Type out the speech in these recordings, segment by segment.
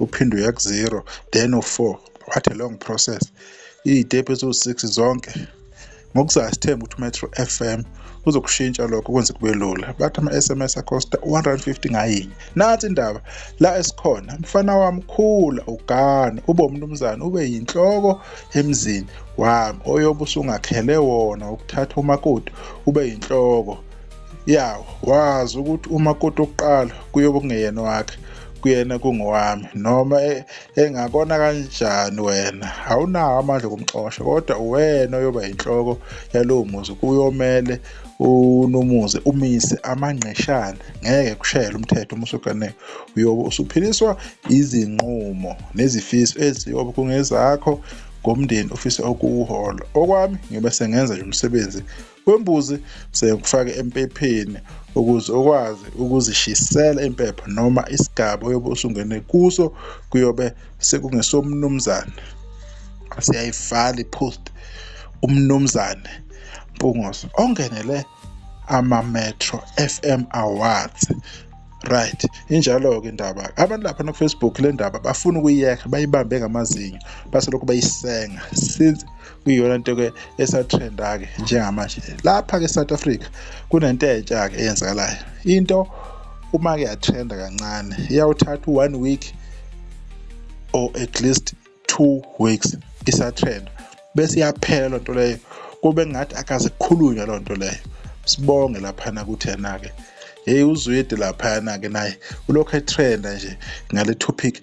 uphinde uya ku-zero then u-four what a long process iy'tepu eziwu-six zonke ngokuzayo sithemba ukuthi umetro f m uzokushintsha lokho kwenze kube lula bathi ama-s m s acosta 150 ngayinye nathi indaba la esikhona mfana wami khula ugane ube umnumzane ube yinhloko emzini wami oyobe usungakhele wona ukuthatha umakoti ube yinhloko ya wazi ukuthi uma koti okuqala kuyobe kungeyena wakhe kuyena kungowami noma e, engakona kanjani wena awunawo amandla okumxosha kodwa uwena oyoba yinhloko yalowo muzi kuyomele unomuzi umise amangqeshana ngeke kushayele umthetho uma usuganeke uyobe usuphiliswa izinqumo nezifiso eziyobe kungezakho ngomndeni ofisa ukuwuhola okwami ngibe sengenza nje umsebenzi kwembuzi kuze kufake empepheni ukuze ukwazi ukuzishisela impepho noma isigaba oyobe usungene kuso kuyobe sekungesomnumzane siyayivala i-post umnumzane Mpungose ongenele ama-Metro FM Awards right injalo-ke indaba abantu lapha nakufacebook le ndaba bafuna ukuyiyeka bayibambe ngamazinyo baselokhu bayisenga since iyona nto ke esatrenda ke njengamanje lapha ke South Africa kunento entsha ke eyenzakalayo into uma ke yatrenda kancane iyawuthatha one week or at least two weeks isatrenda bese iyaphela lonto leyo kube ngathi akazikhulunywa lonto leyo sibonge lapha na kuthi yena ke hey uzwidi lapha na ke naye ulokho etrenda nje ngale topic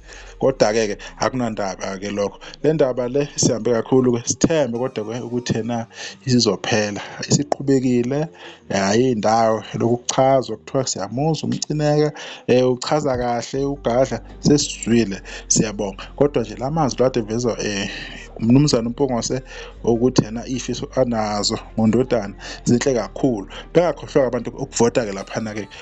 Kodwa-ke ke akunandaba-ke lokho. Le ndaba le sihambe kakhulu-ke sithembe kodwa-ke ukuthi ena isizophela. Isiqhubekile hhayi indawo lokhu kuchazwa kuthiwa siyamuzwa umcineka um uchaza kahle ugadla sesizwile siyabonga kodwa nje la mazwi lade evezwa um umnumzane umpongose ukuthi yena iy'fiso anazo ngondodana zinhle kakhulu bengakhohlwa-ke abantu ukuvota-ke laphana-ke